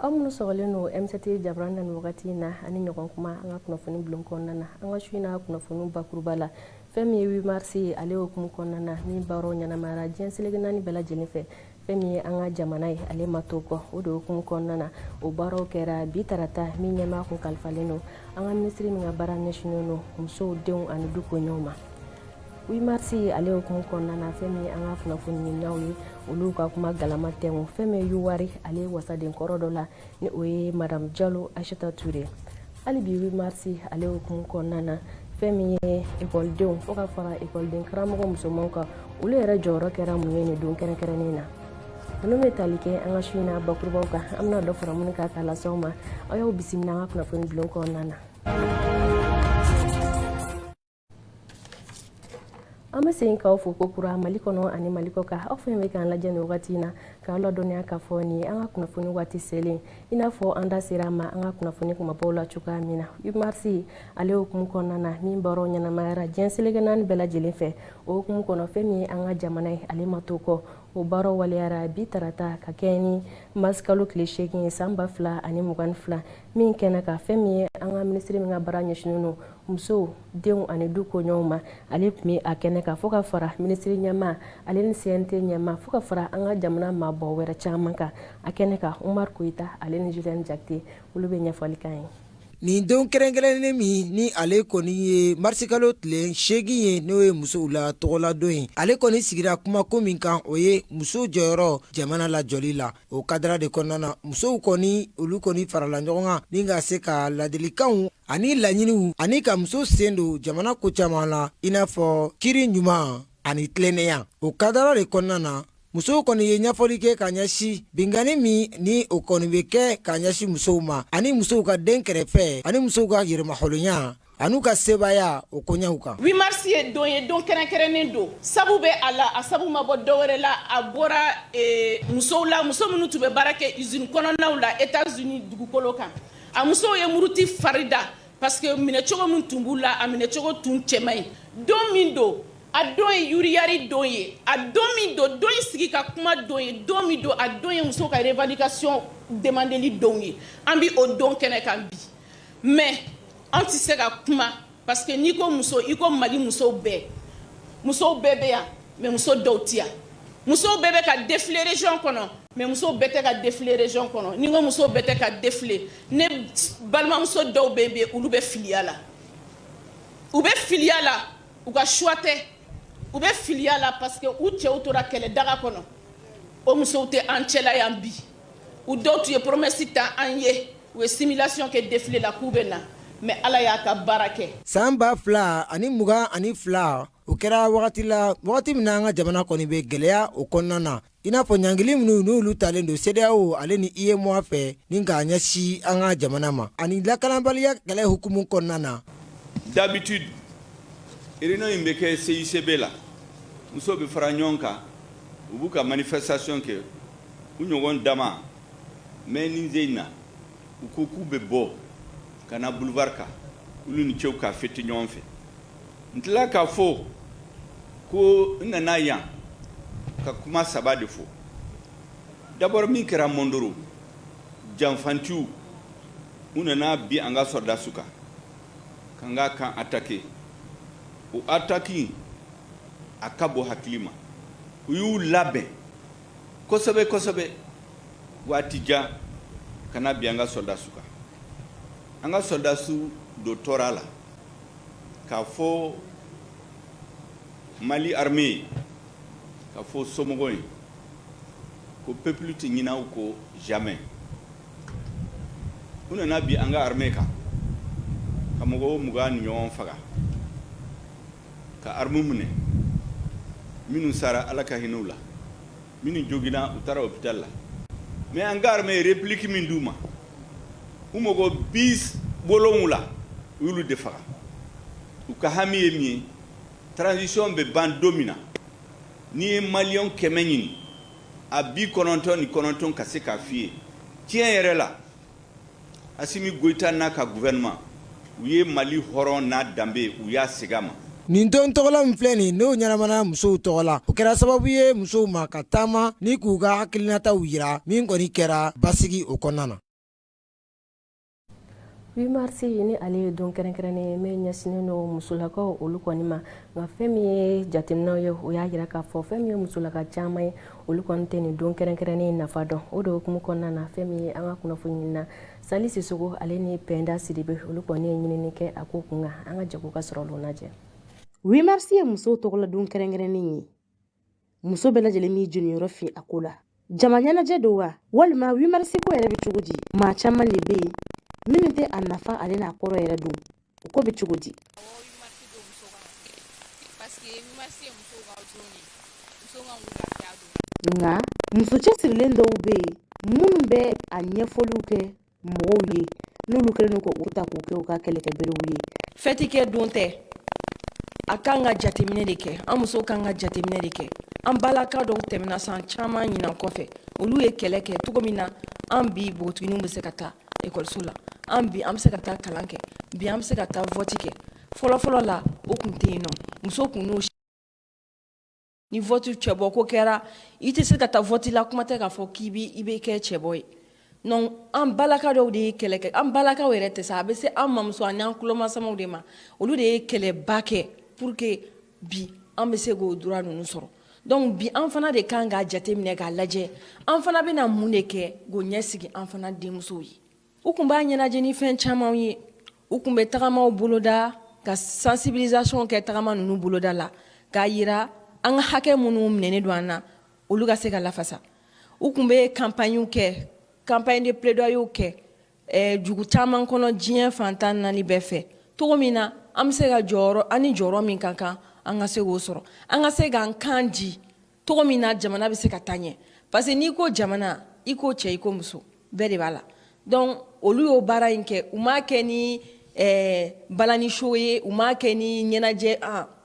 aw minnu sɔgɔlen don mct jabaranin na nin wagati in na ani ɲɔgɔn kuma an ka kunnafoni bulon kɔnɔna na an ka su in na kunnafoni bakuruba la fɛn min ye 8 marisi ye ale hukumu kɔnɔna na min baaraw ɲɛnamayara diɲɛ seleke naani bɛɛ lajɛlen fɛ fɛn min ye an ka jamana ye ale ma to kɔ o de hukumu kɔnɔna na o baaraw kɛra bi tarata min ɲɛmaa kun kalifalen don an ka minisiri min ka baara ɲɛsinnen don musow denw ani du koɲɛw ma 8 marisi ale hukumu kɔnɔna na fɛn min ye an ka kunnafonidilaw ye olu ka kuma galama tɛnku fɛn min ye yuwaru ale wasaden kɔrɔ dɔ la ni o ye madame jalo ayisata ture hali bi 8 marsi ale hukumu kɔnɔna na fɛn min ye ekɔlidenw fo ka fara ekɔliden karamɔgɔ musomanw kan olu yɛrɛ jɔyɔrɔ kɛra mun ye nin don kɛrɛnkɛrɛnnen na ninnu bɛ tali kɛ an ka su in na bakurubaw kan an bɛna dɔ fara minnu kan k'a lase aw ma aw y'aw bisimila an ka kunnafoni bulon kɔnɔna na an bɛ segin k'aw fo ko kura mali kɔnɔ ani mali kɔ kan aw fɛn bɛ k'an lajɛ nin wagati in na k'aw ladɔnniya k'a fɔ nin ye an ka kunnafoni waati selen i n'a fɔ an da sera a ma an ka kunnafoni kumabaw la cogoya min na 8 marisi ale hukumu kɔnɔna na min baaraw ɲɛnamayara diɲɛ seleke naani bɛɛ lajɛlen fɛ o hukumu kɔnɔ fɛn min ye an ka jamana ye ale ma to kɔ o baaraw waleyara bi tarata ka kɛɲɛ ni marisikalo tile seegin ye san ba fila ani mugan ni fila min kɛnɛ kan fɛn min ye an ka minisiri min ka baara ɲɛsinnen don musow denw ani du koɲɛw ma ale tun bɛ a kɛnɛ kan fo ka fara minisiri ɲɛmaa ale ni cnt ɲɛmaa fo ka fara an ka jamana maaba wɛrɛ caman kan a kɛnɛ kan umar koyita ale ni julien jakite olu bɛ ɲɛfɔli k'an ye nin don kɛrɛnkɛrɛnnen min ni ale kɔni ye marisikalo tile seegin ye n'o ye musow la tɔgɔladon ye ale kɔni sigira kumako min kan o ye muso jɔyɔrɔ jamana lajɔli la o kadara de kɔnɔna na musow kɔni olu kɔni farala ɲɔgɔn kan ni ka se ka ladilikanw ani laɲiniw ani ka muso sen don jamana ko caman la i n'a fɔ kiiri ɲuman ani tilennenya o kadara de kɔnɔna na musow kɔni ye ɲɛfɔli kɛ ka ɲɛsin binkanni min ni o kɔni bɛ kɛ ka ɲɛsin musow ma ani musow ka dɛnkɛrɛfɛ ani musow ka yɛrɛmahɔrɔnya ani u ka sebaaya o koɲɛw kan 8 marisi ye don ye don kɛrɛnkɛrɛnnen don sabu bɛ a la a sabu ma bɔ dɔwɛrɛ la a bɔra e, musow la muso minnu tun bɛ baara kɛ izini kɔnɔnaw la etats unis dugukolo kan a musow ye muruti fari da parce que minɛcogo min tun b'u la a minɛcogo tun cɛ man ɲi don min don a don ye yuriyari don ye a don min don don ye sigi ka kuma don ye don min don a don ye musow ka revendication demandeli don ye an bɛ o don kɛnɛ kan bi mais an tɛ se ka kuma parce que n'i ko muso i ko Mali musow bɛɛ musow bɛɛ bɛ yan mais muso dɔw tɛ yan musow bɛɛ bɛ ka défiler région kɔnɔ mais musow bɛɛ tɛ ka défiler région kɔnɔ ni n ko musow bɛɛ tɛ ka défiler ne balimamuso dɔw bɛ yen bi olu bɛ filiya la u bɛ filiya la u ka choix tɛ u bɛ filiya la parce que u cɛw tora kɛlɛ daga kɔnɔ o musow tɛ an cɛla yan bi. u dɔw tun ye promesse ta an ye u ye simulation kɛ défilé la k'u bɛ na mais Ala y'a ka baara kɛ. San ba fila ani mugan ani fila, o kɛra wagati la, wagati min na an ka jamana kɔni bɛ gɛlɛya o kɔnɔna na, i n'a fɔ ɲangili minnu n'olu talen don CEDEAO ale ni UEMOA fɛ ni k'a ɲɛsin an ka jamana ma ani lakanabaliya kɛlɛ hukumu kɔnɔna na. D'habitude, réunion in bɛ kɛ CICB la, musow bɛ fara ɲɔgɔn kan, u b'u ka manifestation kɛ. u ɲɔgɔn dama mais nin sen in na u ko k'u bɛ bɔ ka na boulevard kan olu ni cɛw ka fêter ɲɔgɔn fɛ n tila k'a fɔ ko n nana yan ka kuma saba de fɔ d'abord min kɛra Mondoro janfantiw u nana bin an ka sɔrɔdasiw kan k'an ka camp attaquer o attaque in a ka bon hakili ma u y'u labɛn kosɛbɛ kosɛbɛ waati jan ka na bin an ka sɔrɔdasiw kan an ka sɔrɔdasiw dɔw tora a la k'a fɔ mali armée ye k'a fɔ somɔgɔw ye ko peuple tɛ ɲinɛ u kɔ jamais u nana bin an ka armée kan ka mɔgɔw mugan ni ɲɔgɔn faga ka armew minɛ minnu sara ala ka hinɛ u la minnu jogina u taara hôpital la mais an ka armée ye réplique min d'u ma u mɔgɔ bi wolonwula u y'olu de faga u ka hami ye min ye transition bɛ ban don min na n'i ye maliyɛn kɛmɛ ɲininka bi kɔnɔntɔn ni kɔnɔntɔn ka se k'a f'i ye tiɲɛ yɛrɛ la Asimi Goyita n'a ka gouvernement u ye Mali hɔrɔn n'a danbe u y'a segin a ma. Nin don tɔgɔla min filɛ nin ye n'o ɲɛnamana musow tɔgɔ la, o kɛra sababu ye musow ma ka taama ni k'u ka hakilinataw jira, min kɔni kɛra basigi o kɔnɔna na. 8 mars ni ale ye don kɛrɛnkɛrɛnnen ye min ɲɛsinnen don musolakaw olu kɔni ma nka fɛn min ye jateminɛw ye o y'a jira k'a fɔ fɛn min ye musolaka caman ye olu kɔni tɛ nin don kɛrɛnkɛrɛnnen nafa dɔn o de hukumu kɔnɔna na fɛn min ye an ka kunnafoniɲinina sali sisogo ale ni pɛnda sidibe olu kɔni ye ɲinini kɛ a ko kunkan an ka jɛ k'u ka sɔrɔ olu lajɛ wimarisi ye musow tɔgɔladon kɛrɛnkɛrɛnnen ye muso bɛɛ lajɛlen b'i jeniyɔrɔ fin a ko la jama ɲɛnajɛ don wa walima wimarisiko yɛrɛ bɛ cogo di maa caman de bɛ yen minnu tɛ a nafa ale n'a kɔrɔ yɛrɛ dɔn o ko bɛ cogo di nka muso cɛsirilen dɔw bɛ yen minnu bɛ a ɲɛfɔliw kɛ mɔgɔw ye n'olu kɛlen don ka u ta k'u kɛ u ka kɛlɛkɛberew ye fɛti kɛ don tɛ a kan ka jateminɛ de kɛ an musow kan ka jateminɛ de kɛ an balaka dɔw tɛmɛna san caman ɲinan kɔfɛ olu ye kɛlɛ kɛ cogo min na an bi npogotiginiw bɛ se ka taa ekɔliso la an bi an bɛ se ka taa kalan kɛ bi an bɛ se ka taa vɔti kɛ fɔlɔfɔlɔ la o kun tɛ yen nɔ muso kun n'o ni vɔti cɛbɔ ko kɛra i tɛ se ka taa vɔti la kuma tɛ k'a fɔ k'i bɛ i bɛ kɛ cɛbɔ ye donc an balaka dɔw de ye kɛlɛ kɛ an balakaw yɛrɛ tɛ sa a bɛ se an mamuso ani an tulomasamaw de ma olu de ye kɛlɛba kɛ pour que bi an bɛ se k'o droit ninnu sɔrɔ donc bi an fana de kan k'a jateminɛ k'a lajɛ an fana bɛna mun de kɛ k'o ɲɛsigi an fana denmusow ye u kun b'a ɲɛnajɛ ni fɛn camanw ye u kun bɛ tagamaw boloda ka sensibilisation kɛ tagama ninnu boloda la k'a yira an ka hakɛ minnu minɛnen don an na olu ka se ka lafasa u kun bɛ campagne kɛ campagne de plaidoyer kɛ eh, dugu caman kɔnɔ diɲɛ fan tan naani bɛɛ fɛ cogo min na an bɛ se ka jɔyɔrɔ an ni jɔyɔrɔ min ka kan an ka se k'o sɔrɔ an ka se k'an kan di cogo min na jamana bɛ se ka taa ɲɛ parce que n'i ko jamana i ko cɛ i ko muso bɛɛ de b'a la donc olu y'o baara in kɛ u m'a kɛ ni eh, balani show ye u m'a kɛ ni ɲɛnajɛ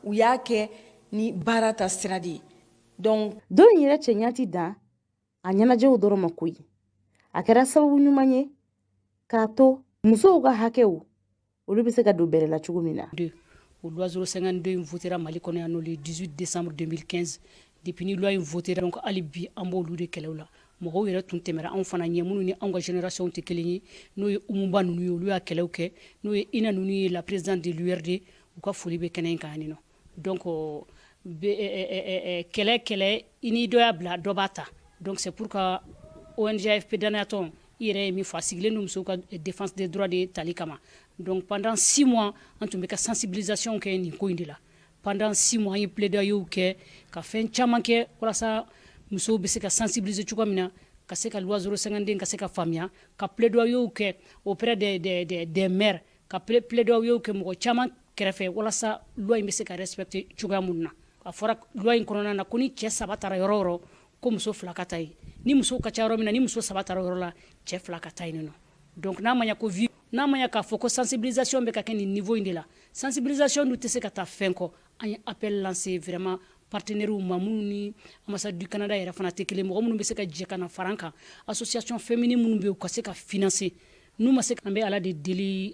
u y'a kɛ ni baara ta sira de ye donc don in yɛrɛ cɛɲa tɛ dan a ɲɛnajɛw dɔrɔn ma koyi a kɛra sababu ɲuman ye k'a to musow ka hakɛw olu bɛ se ka don bɛrɛ la cogo min na o loi 052 in votera mali kɔnɔ yan nɔ le 18 décembre 2015 depuis ni loi in votera donc hali bi an b'olu de kɛlɛw la mɔgɔw yɛrɛ tun tɛmɛra anw fana ɲɛ minnu ni anw ka génération tɛ kelen ye n'o ye umuba ninnu ye olu y'a kɛlɛw kɛ n'o ye ina ninnu ye la présidente de l'urd u ka foli bɛ kɛnɛ in kan yan nɔ Don ko kɛlɛ kɛlɛ i ni dɔ y'a bila dɔba ta dɔnkisɛ pur ka ozypdtɔn i yɛrɛ ye min fa sigilen ni muso ka defasɛ dɔrɔn de ye tali kama dɔn pantan si ma an tun bɛ ka sansinbizyon kɛ nin ko in de la pantan si ma ye pleda y' kɛ ka fɛn caman kɛ walasa musow bɛ se ka sansinbisi cogo min na ka se ka wazuru sanden ka se ka faamuya ka pleda y' kɛ op dɛ dɛmɛ ka p pleda y' kɛ mɔgɔ caman kɛrɛfɛ walasa loi in bɛ se ka respecter cogoya min na a fɔra loi in kɔnɔna na ko ni cɛ saba taara yɔrɔ o yɔrɔ ko muso fila ka taa yen ni muso ka ca yɔrɔ min na ni muso saba taara yɔrɔ la cɛ fila ka taa yen nɔ donc n'a ma ɲɛ ko n'a ma ɲɛ k'a fɔ ko sensibilisation bɛ ka kɛ nin niveau in de la sensibilisation dun tɛ se ka taa fɛn kɔ an ye appel lancer vraiment partenairew ma minnu ni ambassade du Canada yɛrɛ fana tɛ kelen mɔgɔ minnu bɛ se ka jɛ ka na fara an kan association féminine minnu bɛ yen u ka se ka financer N'u ma se an bɛ ala de deli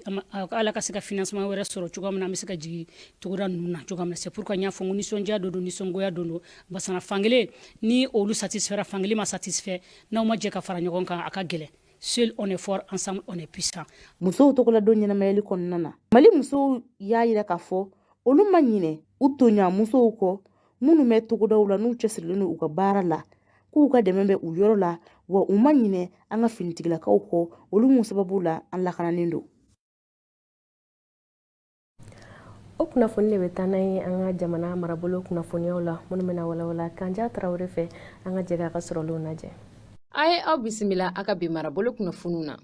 ala ka se ka financement wɛrɛ sɔrɔ cogo min na an bɛ se ka jigin togoda ninnu na cogo min na c'est pourquoi n y'a fɔ nisɔndiya don don nisɔngoya don don ba fankelen ni olu satisfait fankelen ma satisfait n'aw ma jɛ ka fara ɲɔgɔn kan a ka gɛlɛn seul on est fort ensemble on est puissant musow tɔgɔla don ɲɛnamayali kɔnɔna na mali musow y'a jira k'a fɔ olu ma ɲinɛ u tɔɲɔgɔnmusow kɔ minnu bɛ togodaw la n'u cɛsirilen don u ka baara la k'u ka dɛmɛ bɛ u yɔrɔ la wa u ma ɲinɛ an ka finitigilakaw kɔ olu mun sababu la an lakananen don o kunnafoni de bɛ taa n'an ye an ka jamana marabolo kunnafoniyaw la minnu bɛna walawala kanja tarawele fɛ an ka jɛ k'a ka sɔrɔlenw lajɛ an ye aw bisimila a ka bi marabolo kunnafoniw na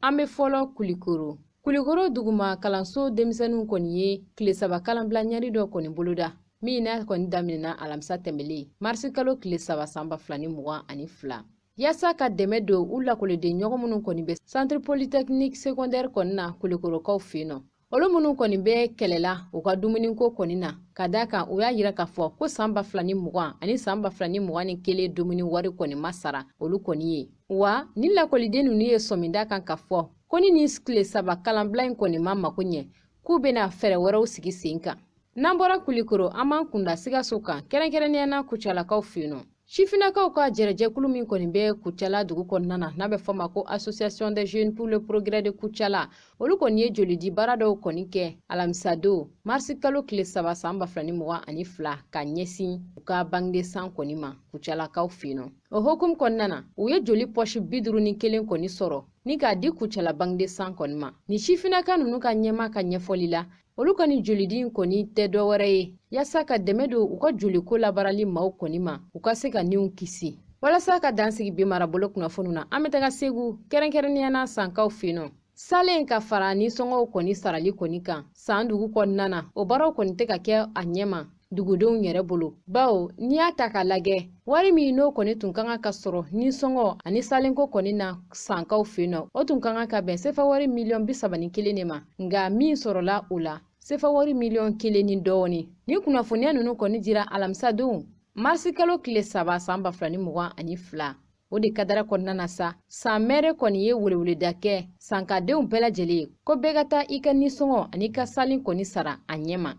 an bɛ fɔlɔ kulikoro kulikoro duguma kalanso denmisɛnninw kɔni ye tile saba kalanbila ɲɛri dɔ kɔni boloda min n'a kɔni daminɛna alamisa tɛmɛlen marisi kalo tile saba san ba fila ni mugan ani fila yaasa ka dɛmɛ don u lakɔliden ɲɔgɔn minnu kɔni bɛ centre polytechnique secondaire kɔni na kulikorokaw fɛ yen nɔ olu minnu kɔni bɛ kɛlɛla u ka dumuniko kɔni na ka da kan u y'a jira k'a fɔ ko saan ba fila ni mugan ani saan ba fila ni mugan ni kelen dumuni wari kɔni ma sara olu kɔni ye wa ni lakɔliden ninnu ye sɔminda kan k'a fɔ ko ni nin tile saba kalanbila in kɔni ma mago ɲɛ k'u bɛna fɛɛrɛ wɛrɛw sigi sen kan N'an bɔra kulikoro an b'an kunda sikaso kan kɛrɛnkɛrɛnnenya na kucalakaw fɛ yen nɔ sifinakaw ka jɛrɛjɛkulu min kɔni bɛ kucala dugu kɔnɔna na n'a bɛ fɔ ma ko association des jeunes pour le progrès de kucala olu kɔni ye jolidi baara dɔw kɔni kɛ alamisadon marisi kalo tile saba saan ba fila ni mugan ani fila ka ɲɛsin u ka banque de sang kɔni ma kucalakaw fɛ yen nɔ o hokumu kɔnɔna na u ye joli pɔsi bi duuru ni kelen kɔni sɔrɔ ni k'a di kucala banque de sang kɔni ma ni sifinaka ninnu ka ɲɛmaa ka ɲɛfɔli la olu ka nin jolidi in kɔni tɛ dɔ wɛrɛ ye yaasa ka dɛmɛ don u ka joliko labaarali maaw kɔni ma u ka se ka niw kisi walasa ka dan sigi bi marabolo kunnafoniw na an bɛ taga segu kɛrɛnkɛrɛnnenya na sankaw fɛ yen nɔ salen ka fara nisɔngɔw kɔni sarali kɔni kan san dugu kɔnɔna na o baaraw kɔni tɛ ka kɛ a ɲɛma dugudenw yɛrɛ bolo bawo n'i y'a ta k'a lagɛ wari min n'o kɔni tun ka kan ka sɔrɔ nisɔngɔ ani salenko kɔni na sankaw fɛ yen nɔ o tun ka kan ka bɛn sefa wari miliyɔn bi saba ni kelen de ma nka min sɔrɔla o la sefa wari miliyɔn kelen ni dɔɔni ni kunnafoniya ninnu kɔni dira alamisadon marisi kalo tile saba saan ba fila ni mugan ani fila o de kadara kɔnɔna na sa san mɛri kɔni ye weleweleda kɛ sankadenw bɛɛ lajɛlen ye ko bɛɛ ka taa i ka nisɔngɔ ani i ka salen kɔni sara a ɲɛma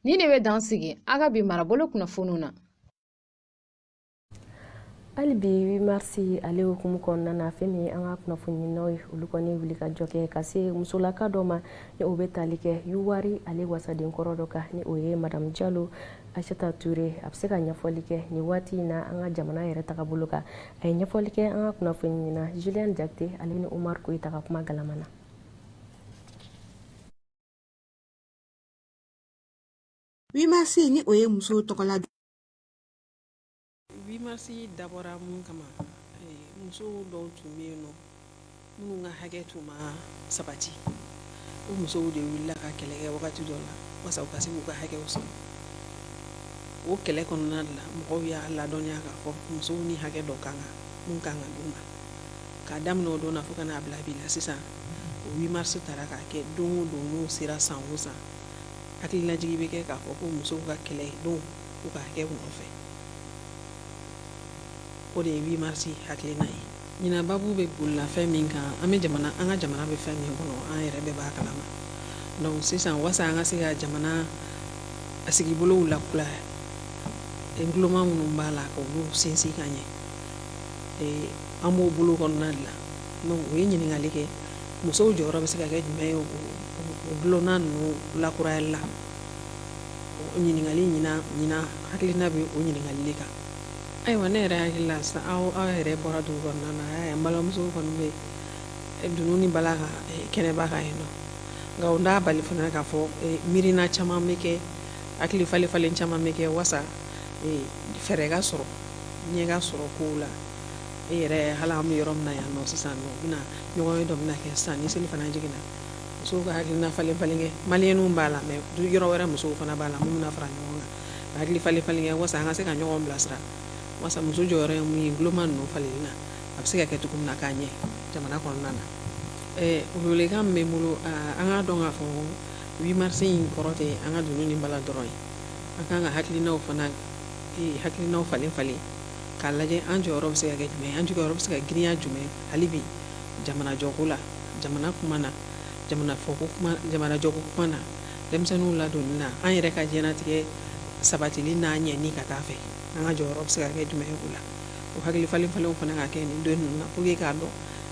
Ni de bɛ dan sigi a ka bi marabolo kunnafoniw na hali bi 8 mars ale hukumu kɔnɔna na fɛn min an ka kunnafoninaw ye olu kɔni wuli ka jɔ kɛ ka se musolaka dɔ ma ni o bɛ tali kɛ yuwari ale wasaden kɔrɔ dɔ kan ni o ye madamu jalo ayisata ture a bɛ se ka ɲɛfɔli kɛ nin waati in na an ka jamana yɛrɛ tagabolo kan a ye ɲɛfɔli kɛ an ka kunnafonina julien jakite ale ni omar koyita ka kuma galama na 8 mars ni o ye muso tɔgɔla don 8 mars dabɔra mun kama muso dɔw tun bɛ yen nɔ minnu ka hakɛ tun ma sabati o musow de wulila ka kɛlɛ kɛ wagati dɔ la wasa u ka se k'u ka hakɛw sɔrɔ o kɛlɛ kɔnɔna la mɔgɔw y'a ladɔnniya k'a fɔ musow ni hakɛ dɔ ka kan mun ka kan ka d'u ma k'a daminɛ o don na fo ka n'a bila bi la sisan o 8 mars taara k'a kɛ don o don n'o sera san o san hakililajigin bɛ kɛ k'a fɔ ko musow ka kɛlɛ don u ka hakɛw nɔfɛ o de ye 8 mars hakilina ye ɲinan babu bɛ boli la fɛn min kan an bɛ jamana an ka jamana bɛ fɛn min kɔnɔ an yɛrɛ bɛɛ b'a kalama donc sisan wasa an ka se ka jamana a sigibolow lakuraya ntuloma minnu b'a la k'olu sinsin ka ɲɛ an b'o bolo kɔnɔna de la donc o ye ɲininkali kɛ musow jɔyɔrɔ bɛ se ka kɛ jumɛn ye o ntuloma ninnu lakurayali la o ɲininkali ɲinan ɲinan hakilina bɛ o ɲininkali de kan ayiwa ne yɛrɛ hakili la sisan aw aw yɛrɛ bɔra dugu kɔnɔna na a y'a ye an balimamusow kɔni bɛ eh, dunun ni bala kan eh, kɛnɛba kan yen nɔ nka o t'a bali fana k'a fɔ eh, miirina caman bɛ kɛ hakili falen falen caman bɛ kɛ wasa fɛɛrɛ ka sɔrɔ ɲɛ ka sɔrɔ kow la e yɛrɛ hali an bɛ yɔrɔ min na yan sisan bɛna ɲɔgɔnye dɔ bɛna kɛ sisan ni selifana jiginna musow ka hakili falen falen kɛ maliyɛnw b'a la mɛ du yɔrɔ wɛrɛ musow fana b'a la min bɛna fara ɲɔgɔn kan ka hakili falen falen kɛ wasa an ka se ka ɲɔgɔn bilasira wasa muso jɔyɔrɔ ye mun ye ntuloma ninnu falen na a bɛ se ka kɛ cogo min na k'a ɲɛ jamana kɔnɔna na welekan min bɛ n bolo an k'a dɔn k'a fɔ 8 mars in kɔrɔ tɛ an ka dunun ni bala dɔrɔn ye an ka kan ka hakilina fana hakilina falen falen k'a lajɛ an jɔyɔrɔ bɛ se ka kɛ jumɛn ye, an jɔyɔrɔ bɛ se ka girinya jumɛn hali bi jamana jɔko la, jamana kuma na, jamana fɔko kuma, jamana jɔko kuma na, denmisɛnninw ladonni na, an yɛrɛ ka diɲɛlatigɛ sabatili n'a ɲɛni ka taa fɛ, an ka jɔyɔrɔ bɛ se ka kɛ jumɛn ye o la, o hakili falen falenw fana ka kɛ nin don ninnu na pour que k'a dɔn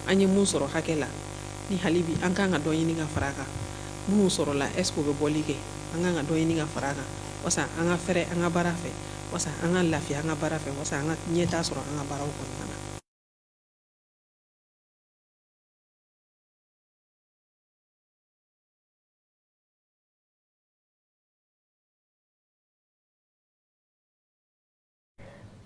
an ye mun sɔrɔ hakɛ la, ni hali bi an ka kan ka dɔ ɲini ka fara a kan, minnu sɔrɔla est ce que u bɛ bɔli kɛ? an ka kan ka dɔ ɲini ka fara a kan walasa an ka fɛrɛ an ka baara fɛ. walasa an ka lafiya an ka baara fɛ walasa an ka ɲɛtaa sɔrɔ an ka baaraw kɔnɔna na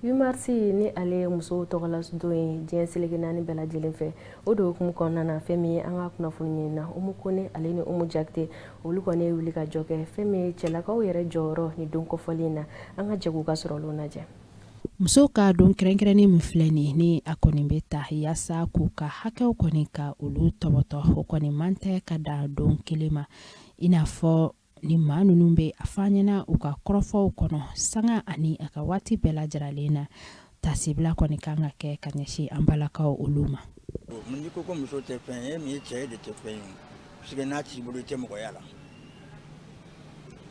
8 mars ni ale ye musow tɔgɔladon ye diɲɛ seleke naani bɛɛ lajɛlen fɛ o de hukumu kɔnɔna na fɛn min ye an ka kunnafoniɲinina Umu Kone ale ni Umu Jakite olu kɔni ye wuli ka jɔ kɛ fɛn min ye cɛlakaw yɛrɛ jɔyɔrɔ ni don kɔfɔlen na an ka jɛ k'u ka sɔrɔlenw lajɛ musow ka don kɛrɛnkɛrɛnnen min filɛ nin ni a kɔni bɛ ta yaasa k'u ka hakɛw kɔni ka olu tɔbɔtɔ o kɔni man tɛ ka dan don kelen ma i n'a fɔ ni maa ninnu bɛ a fɔ an ɲɛna u ka kɔrɔfɔw kɔnɔ sanga ani a ka waati bɛɛ lajɛrɛlen na tasibila kɔni kan ka kɛ ka ɲɛsin an balakaw olu ma n'i ko ko muso tɛ fɛn ye min ye cɛ de tɛ fɛn ye parce que n'a t'i bolo i tɛ mɔgɔya la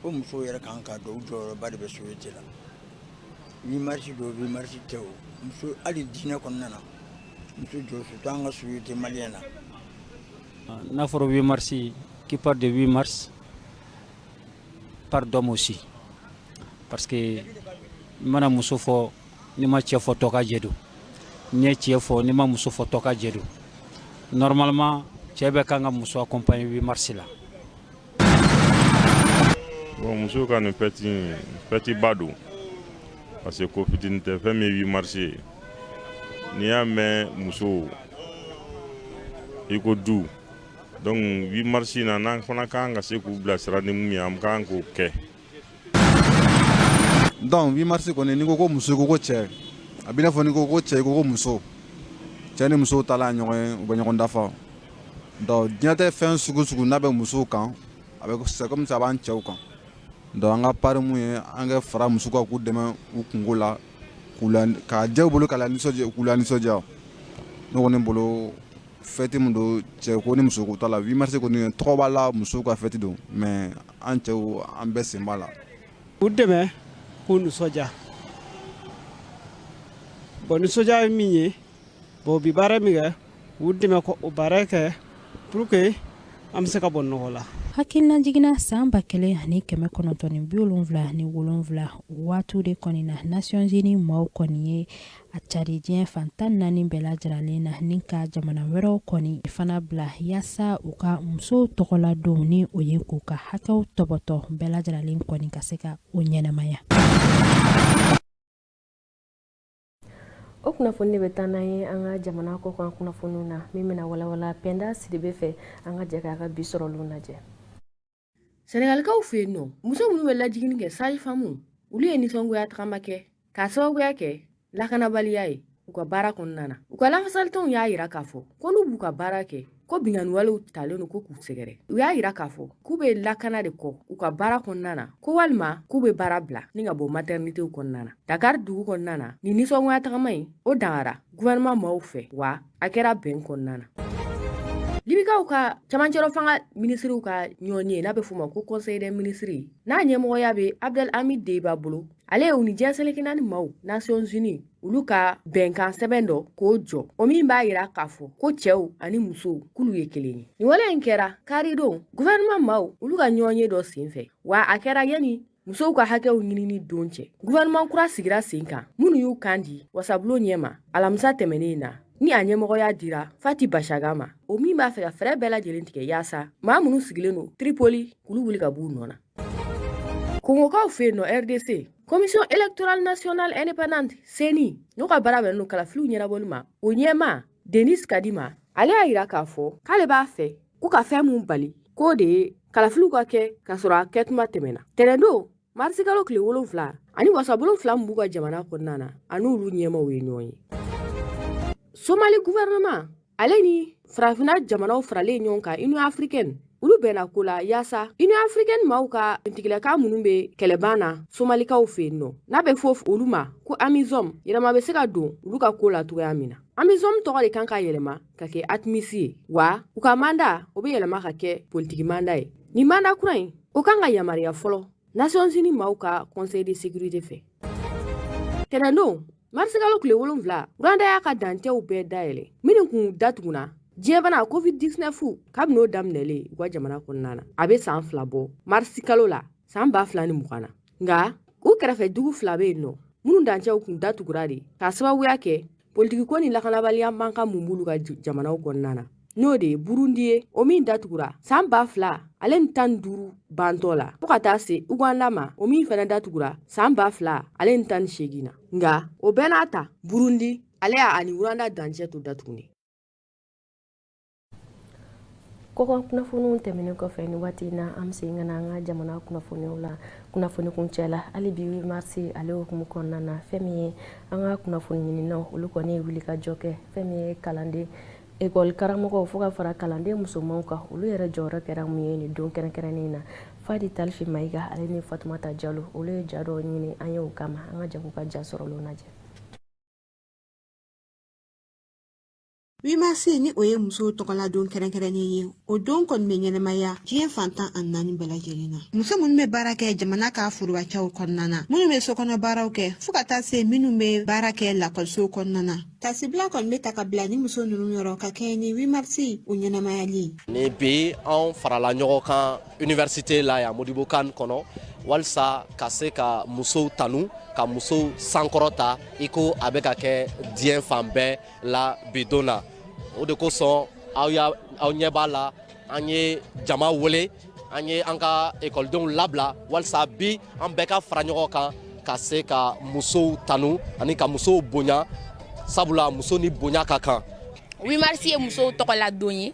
fo musow yɛrɛ kan k'a dɔn u jɔyɔrɔba de bɛ société la 8 mars don 8 mars tɛ o muso hali diinɛ kɔnɔna na muso jɔ surtout an ka société malienne na n'a fɔra 8 mars qui parle de 8 mars parle d'homme aussi parce que n mana muso fɔ n'i ma cɛ fɔ tɔkajɛ don n'i ye cɛ fɔ n'i ma muso fɔ tɔkajɛ don normalement cɛ bɛɛ kan ka muso accompagner 8 mars la bon muso ka nin fɛtiba don parce que ko fitinin tɛ fɛn min ye 8 mars ye n'i y'a mɛn muso i ko du donc 8 mars in na n'an fana ka kan ka se k'u bilasira ni mun ye an ka kan k'o kɛ Donc 8 mars kɔni n'i ko ko muso i ko ko cɛ a b'i n'a fɔ n'i ko ko cɛ i ko ko muso cɛ ni muso taala ɲɔgɔn ye u bɛ ɲɔgɔn dafa donc diɲɛtɛ fɛn sugu sugu n'a bɛ musow kan a bɛ c'est comme ça a b'an cɛw kan donc an ka part mun ye an ka fara muso kan k'u dɛmɛ u kunko la k'a diya u bolo k'u lanisɔndiya ne kɔni bolo fɛti min don cɛko ni musoko t'a la 8 mars kɔni tɔgɔ b'a la muso ka fɛti don mais an cɛw an bɛɛ sen b'a la u dɛmɛ k'u nisɔndiya bon nisɔndiya ye min ye bon u bi baara min kɛ u dɛmɛ k'o baara kɛ pour que an bɛ se ka bɔ nɔgɔ la hakilina jiginna san ba kelen ani kɛmɛ kɔnɔntɔn ni bi wolonwula ni wolonwula waati de kɔni na nasiyɔnzini maaw kɔni ye a cari diɲɛ fan tan naani bɛɛ lajɛrɛlen na ni ka jamana wɛrɛw kɔni fana bila yaasa u ka musow tɔgɔladon ni o ye k'u ka hakɛw tɔbɔtɔ bɛɛ lajɛrɛlen kɔni ka se ka o ɲɛnamaya o kunnafoni de bɛ taa n'an ye an ka jamana kɔkan kunnafoniw na min bɛna walawala Pɛnda Sidibe fɛ an ka jɛ k'a ka bi sɔrɔlen lajɛ sɛnɛgalikaw fɛ yen nɔ muso minnu bɛ lajigini kɛ sage-femme olu ye nisɔngoya tagama kɛ k'a sababuya kɛ lakanabaliya ye u ka baara kɔnɔna na u ka lafasalitɔnw y'a yira k'a fɔ ko n'u b'u ka baara kɛ ko binkanniwalew talen don ko k'u sɛgɛrɛ u y'a yira k'a fɔ k'u bɛ lakana de kɔ u ka baara kɔnɔna na ko walima k'u bɛ baara bila ni ka bɔ maternitéw kɔnɔna na dakar dugu kɔnɔna na nin nisɔngoya tagama in o dangara gouvernement maaw fɛ wa a kɛra bɛn kɔnɔna na libikaw ka camancɛrɔ fanga minisiriw ka ɲɔgɔnye n'a bɛ f'o ma ko conseil des ministres n'a ɲɛmɔgɔya bɛ abdel hamid dbeibah bolo ale ye u ni diɲɛ seleke naani maaw nations unis olu ka bɛnkan sɛbɛn dɔ k'o jɔ o min b'a yira k'a fɔ ko cɛw ani musow k'olu ye kelen ye nin wale in kɛra karidon gouvernement maaw olu ka ɲɔgɔnye dɔ senfɛ wa a kɛra yani musow ka hakɛw ɲinini don cɛ gouvernement kura sigira sen kan minnu y'u kan di wasabulon ɲɛ ma alamisa tɛmɛnen na ni a ɲɛmɔgɔya dira fathi bashagha ma o min b'a fɛ ka fɛɛrɛ bɛɛ lajɛlen tigɛ yaasa maa minnu sigilen don tripoli k'olu wuli ka b'u nɔ na kongokaw fɛ yen nɔ rdc commission électorale nationale indépendante ceni n'o ka baara bɛnnen don kalafiliw ɲɛnabɔli ma o ɲɛmaa denis kadima ale y'a yira k'a fɔ k'ale b'a fɛ ko ka fɛn min bali k'o de ye kalafiliw ka kɛ k'a sɔrɔ a kɛtuma tɛmɛna tɛnɛndon marisikalo tile wolonfila ani wasabulon fila min b'u ka jamana kɔnɔna na an'olu ɲɛmaaw ye ɲɔgɔn ye somali gouvernement ale ni farafina jamanaw faralen ɲɔgɔn kan union africaine olu bɛnna ko la yaasa union africaine maaw ka finitigilakaw minnu bɛ kɛlɛban na somalikaw fɛ yen nɔ n'a bɛ fɔ olu ma ko amisom yɛlɛma bɛ se ka don olu ka ko la cogoya min na amisom tɔgɔ de kan ka yɛlɛma ka kɛ atmis ye wa u ka manda o bɛ yɛlɛma ka kɛ politiki manda ye nin manda kura in o kan ka yamariya fɔlɔ nations unies maaw ka conseil de sécurité fɛ tɛnɛndon marisikalo tile wolonfila rwanda y'a ka dancɛw bɛɛ dayɛlɛ minnu kun datugunna diɲɛbana covid 19 kabini o daminɛlen u ka jamana kɔnɔna na a bɛ saan fila bɔ marisikalo la saan ba fila ni mugan na nka u kɛrɛfɛ dugu fila bɛ yen nɔ minnu dancɛw kun datugura de k'a sababuya kɛ politiki ko ni lakanabaliya mankan mun b'olu ka jamanaw kɔnɔna na n'o de ye burundi ye o min datugura saan ba fila ale ni tan ni duuru bantɔ la fɔɔ ka taa se uganda ma o min fɛnɛ datugura saan ba fila ale ni tan ni seegin na nga o bɛɛ n'a ta burundi ale y'a ani rwanda dancɛ to datugunnen Kɔkan kunnafoniw tɛmɛnen kɔfɛ nin waati in na an bɛ segin ka na an ka jamana kunnafoniw la kunnafoni kuncɛ la hali bi huit mars ale hukumu kɔnɔna na fɛn min ye an ka kunnafoni ɲininaw olu kɔni ye wuli ka jɔ kɛ fɛn min ye kalanden ekɔli karamɔgɔw fo ka fara kalanden musomanw kan olu yɛrɛ jɔyɔrɔ kɛra mun ye nin don kɛrɛnkɛrɛnnen na fadi talfi mayiga ale ni fatumata jalo olu ye ja dɔw ɲini an ye o kama an ka jɛ k'u ka ja sɔrɔlen lajɛ huit mars ni o ye musow tɔgɔla don kɛrɛnkɛrɛnnen ye o don kɔni bɛ ɲɛnamaya diɲɛ fan tan ani naani bɛɛ lajɛlen na muso minnu bɛ baara kɛ jamana ka forobacɛw kɔnɔna na minnu bɛ sokɔnɔ baaraw kɛ fɔɔ ka taa se minnu bɛ baara kɛ lakɔlisow kɔnɔna na tasibila kɔni bɛ ta ka bila ni muso ninnu yɔrɔ ka kɛɲɛ ni huit mars o ɲɛnamayali ye ni bi anw farala ɲɔgɔn kan université la yan Modibo Kane kɔnɔ walisa ka se ka musow tanu ka musow sankɔrɔta i ko a bɛ ka kɛ diɲɛ fan bɛɛ la bi don na o de kosɔn aw y'a aw ɲɛ b'a la an ye jama wele an ye an ka ekɔlidenw labila walisa bi an bɛɛ ka fara ɲɔgɔn kan ka se ka musow tanu ani ka musow bonya sabula muso ni bonya ka kan huit mars ye musow tɔgɔla don ye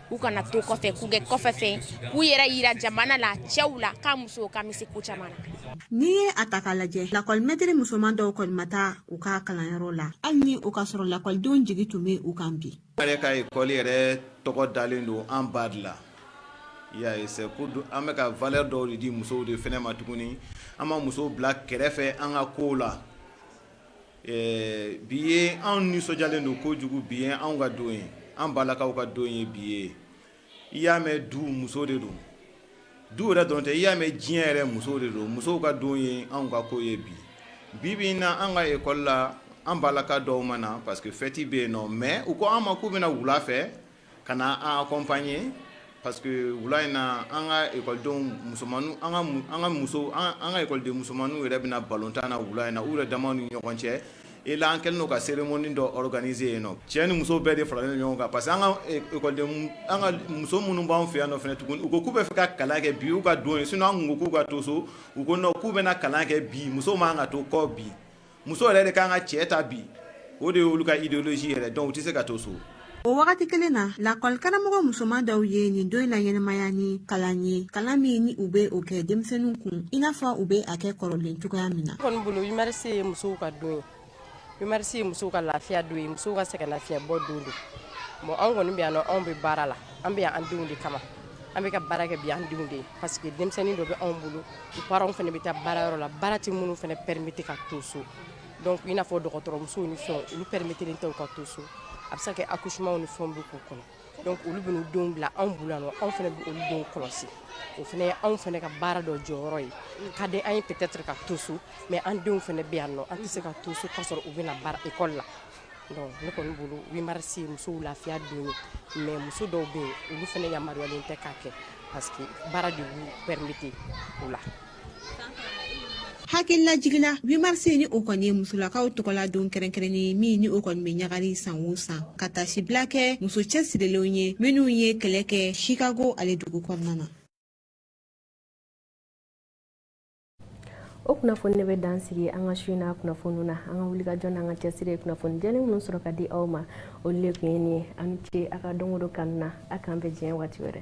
u kana to kɔfɛ k'u kɛ kɔfɛ fɛn k'u yɛrɛ yira jamana la cɛw la ko musow ka bɛ se ko caman na n'i ye a ta k'a lajɛ lakɔlimɛtiri musoman dɔw kɔni ma taa u ka kalanyɔrɔ la hali ni o ka sɔrɔ lakɔlidenw jigi tun bɛ u kan bi an yɛrɛ ka ekɔli yɛrɛ tɔgɔ dalen don an ba de la y'a ye c'est pour an bɛ ka valeur dɔw de di musow de fana ma tuguni an ma musow bila kɛrɛfɛ an ka kow la Ɛɛ bi ye anw nisɔndiyalen don kojugu bi ye anw ka don ye an balakaw ka don ye bi ye i y'a mɛn du muso de don du yɛrɛ dɔrɔn tɛ i y'a mɛn diɲɛ yɛrɛ muso de don musow ka don ye anw ka ko ye bi bi in na an ka école la an balaka dɔw ma na parce que fɛti bɛ yen nɔ mais u ko an ma k'u bɛna wula fɛ Ka na an accompagner parce que wula in na an ka ekɔlidenw musoman an ka muso an ka ekɔliden musomanninw yɛrɛ bɛna na balontan na wula in na u yɛrɛ dama ni ɲɔgɔn cɛ et là an kɛlen don ka cérémonie dɔ organiser yen nɔ cɛ ni muso bɛɛ de faralen ɲɔgɔn kan parce que an ka muso minnu b'an fɛ yan fana tuguni u ko k'u bɛ fɛ ka kalan kɛ bi u ka don ye sinon an tun ko k'u ka to so u ko k'u bɛna kalan kɛ bi muso man ka to kɔ bi muso yɛrɛ de kan ka cɛ ta bi o de ye olu ka idéologie yɛrɛ donc u tɛ se ka to so o wagati kelen na lakɔlikaramɔgɔ musoman dɔw ye nin don in na ɲɛnamaya ni kalan ye kalan min ni u bɛ o kɛ denmisɛnninw kun i n'a fɔ u bɛ a kɛ kɔrɔlen cogoya min na kɔni bolo huit mars ye musow ka don ye huit mars ye musow ka lafiya don ye musow ka sɛgɛnnafiɲɛbɔ don don bon anw kɔni bɛ yan nɔ anw bɛ baara la an bɛ yan an denw de kama an bɛ ka baara kɛ bi an denw de ye parce que denmisɛnnin dɔ bɛ anw bolo u parents fana bɛ taa baarayɔrɔ la baara tɛ minnu fana permettre ka to so donc i n'a fɔ dɔgɔtɔrɔmusow ni fɛnw olu permettre len tɛ u ka to so a bɛ se ka kɛ accouchements ni fɛnw bɛ k'u kɔnɔ donc olu bɛ n'u denw bila anw bolo yan nɔ anw fana bɛ olu denw kɔlɔsi o fana ye anw fana ka baara dɔ jɔyɔrɔ ye ka di an ye peut-être ka to so mais an denw fana bɛ yan nɔ an tɛ se ka to so k'a sɔrɔ u bɛna baara école la Donc ne kɔni bolo 8 mars ye musow lafiya don ye mais muso dɔw bɛ yen olu fana yamaruyalen tɛ k'a kɛ parce que baara de b'u permettre o la. hakilila jigila 8 mars ni o kɔni ye musolakaw tɔgɔla don kɛrɛnkɛrɛnnen ye min ni o kɔni bɛ ɲagari san o san ka taasibila kɛ muso cɛsirilenw ye minnu ye kɛlɛ kɛ chicago ale dugu kɔnɔna na o kunnafoni de bɛ dan sigi an ka su in na kunnafoniw na an ka wuli ka jɔ n'an ka cɛsiri ye kunnafoni jɛlen minnu sɔrɔ ka di aw ma olu de tun ye nin ye a ni ce a ka don o don kanu na a k'an bɛn diɲɛ waati wɛrɛ